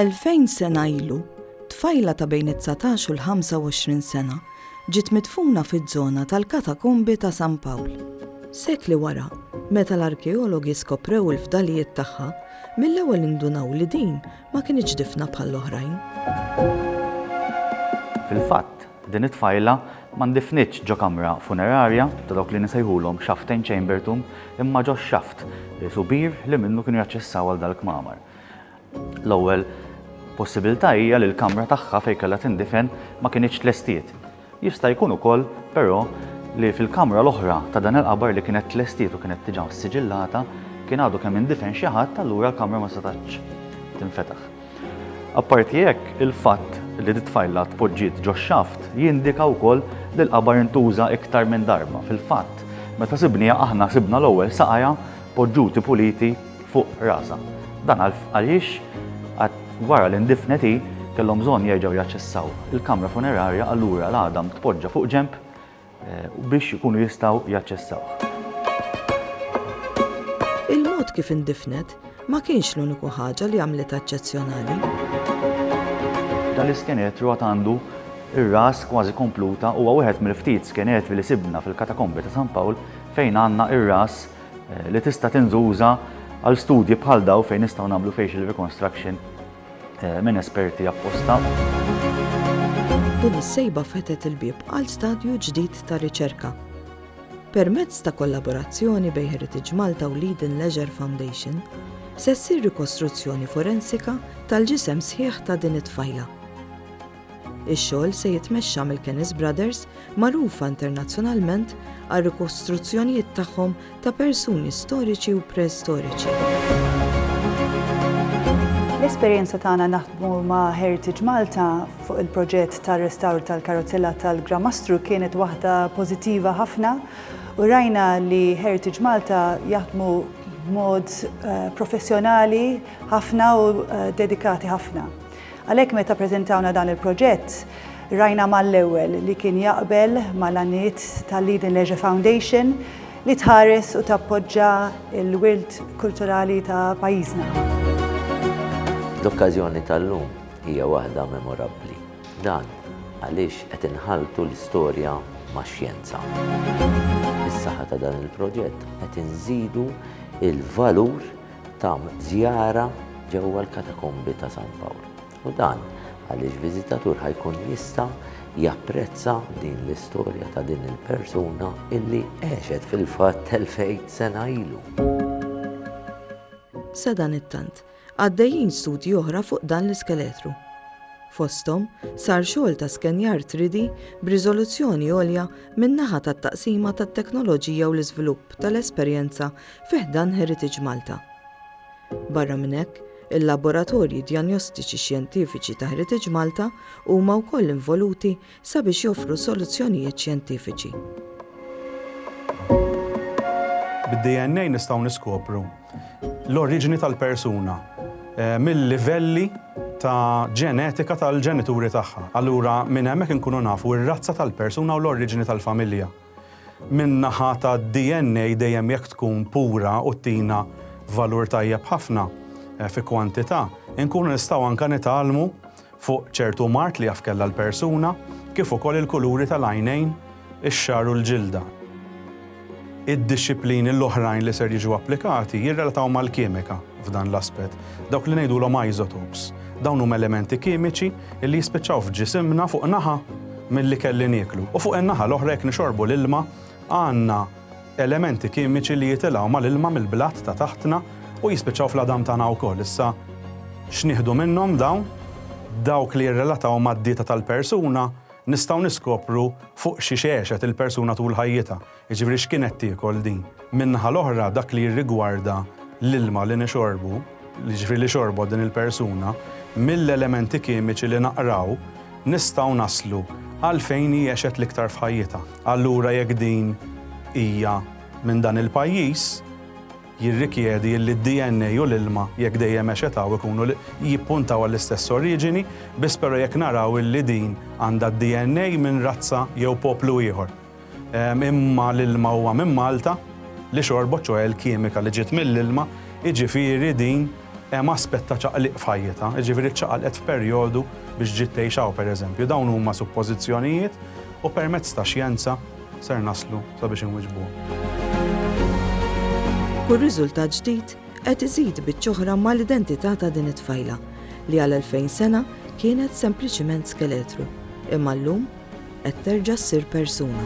Elfejn sena ilu, tfajla ta' bejn it-19 u l-25 sena ġiet midfuna fiż-żona tal-katakombi ta' San Pawl. Sekli wara, meta l-arkeologi skoprew il-fdalijiet tagħha, mill-ewwel indunaw li din ma kinitx difna bħall-oħrajn. Fil-fatt, Din it-tfajla ma ndifnitx ġo kamra funerarja ta' dawk li nisejħulhom xaftejn chambertomb imma ġo xaft subir li minnu kienu jaċċessaw għal dal-kmamar. L-ewwel possibilità hija li l-kamra tagħha fejn kellha tindifen ma kinitx tlestiet. Jista' jkun ukoll, però, li fil-kamra l-oħra ta' dan il-qabar li kienet tlestiet u kienet diġà ssiġillata kien għadu kemm indifen xi ħadd allura l-kamra ma setgħetx tinfetaħ. Apparti hekk, il-fatt li dit-tfajla tpoġġiet ġox-xaft jindika wkoll li l-qabar intuża iktar minn darba. Fil-fatt, meta sibniha aħna sibna l-ewwel saqajha poġġuti puliti fuq rasha. Dan għaliex għad wara li ndifnet hi, kellhom bżonn jerġgħu jaċċessaw il-kamra funerarja allura l-għadam tpoġġa fuq ġenb biex ikunu jistgħu jaċċessawh. Il-mod kif indifnet ma kienx l-uniku ħaġa li għamlitha eċċezzjonali. Dan l-iskeletru għad għandu ir-ras kważi kompluta huwa wieħed mill-ftit skeletri li sibna fil-katakombi ta' San Pawl fejn għandna ir-ras eh, li tista' tinżuża għal studji bħal daw fejn nistgħu nagħmlu facial reconstruction minn esperti apposta. Din is-sejba fetħet il-bieb għal stadju ġdid ta' riċerka. Permezz ta' kollaborazzjoni bejn Heritage Malta u Leiden Leisure Foundation, se ssir rikostruzzjoni forensika tal-ġisem sħiħ ta' din it-tfajla. Ix-xogħol se jitmexxa mill-Kennis Brothers, magħrufa internazzjonalment għar-rikostruzzjonijiet tagħhom ta' persuni storiċi u preistoriċi. L-esperjenza tagħna naħdmu ma' Heritage Malta fuq il-proġett ta' restawr tal-karozzella tal-Gramastru kienet waħda pożittiva ħafna u rajna li Heritage Malta jaħdmu mod eh, professjonali ħafna u eh, dedikati ħafna. Għalhekk meta ppreżentawna dan il-proġett, rajna mal-ewwel li kien jaqbel mal-għanijiet tal-Lead in Leisure Foundation li tħares u tappoġġa l-wirt kulturali ta' pajjiżna. L-okkażjoni tal-lum hija waħda memorabbli. Dan għaliex qed inħalltu l-istorja max-xjenza. Bis-saħħa ta' dan il-proġett qed inżidu l-valur Tam żjara ġewwa l-Katakombi ta' San Pawl u dan għaliex viżitatur ħa jkun jista' japprezza din l-istorja ta' din il-persuna illi għexet fil-fatt 2000 sena ilu. Sadanittant, għaddejjin studji oħra fuq dan l-iskeletru. Fosthom, sar xogħol ta' skenjar 3D b'riżoluzzjoni għolja min-naħa tat-taqsima tat-teknoloġija u l-iżvilupp tal-esperjenza fi ħdan Heritage Malta. Barra minn hekk, il-laboratorji djanjostiċi xjentifiċi ta' Heritage Malta huma wkoll involuti sabiex joffru soluzzjonijiet xjentifiċi. Bid-DNA nistgħu niskopru l-oriġini tal-persuna eh, mill-livelli ta' ġenetika tal-ġenituri tagħha. Allura minn hemmhekk inkunu nafu r-razza tal-persuna u l-oriġini tal-familja. min-naħa tad-DNA dejjem jekk tkun pura u ttina valur tajjeb ħafna fi kwantità, inkunu nistgħu anke nitgħallmu fuq ċertu mard li jaf kellha l-persuna, kif ukoll il-kuluri tal-għajnejn, ix-xagħar u l-ġilda. Id-dixxiplini l-oħrajn li ser jiġu applikati jirrelataw mal-kimika. f'dan l-aspett. Dawk li ngħidulhom isotopes. Dawn huma elementi kimiċi li jispiċċaw f'ġisimna fuq naħa mill-ikel li nieklu. U fuq in-naħa l-oħra jekk nixorbu l-ilma għandna elementi kimiċi li jitilgħu mal-ilma mill-blat ta' taħtna u jispiċċaw fl-għadam tagħna wkoll. Issa x'nieħdu minnhom dawn? Dawk li jirrelataw mad-dieta tal-persuna nistgħu niskopru fuq xi xegħxet il-persuna tul ħajjitha. Jiġifieri x'kien qed tiekol din? Min-naħa l-oħra dak li jirrigwarda l-ilma li nixorbu, jiġifieri li xorbot din il-persuna, mill-elementi kimiċi li naqraw nistgħu naslu għal fejn hi għexet l-iktar f'ħajjitha. Allura jekk din hija minn dan il-pajjiż, jirrikjedi illi d-DNA u l-ilma, jekk dejjem għexet hawn, ikunu jippuntaw għall-istess oriġini, biss però jekk naraw illi din għandha d-DNA minn razza jew poplu ieħor. Imma l-ilma huwa minn Malta li xorbot, ċoħe l-kimika li ġiet mill-ilma, jiġifieri din hemm aspett ta' ċaqliq f'ħajjitha, jiġifieri ċċaqalqet f'perjodu biex ġiet tgħix hawn pereżempju. Dawn huma suppożizzjonijiet u permezz ta' xjenza ser naslu sabiex inwiġbuhom. Kull riżultat ġdid qed iżid biċ-ċoħra mal-identità ta' din it-tfajla li għal elfejn sena kienet sempliċiment skeletru, imma llum Qed terġa' ssir persuna.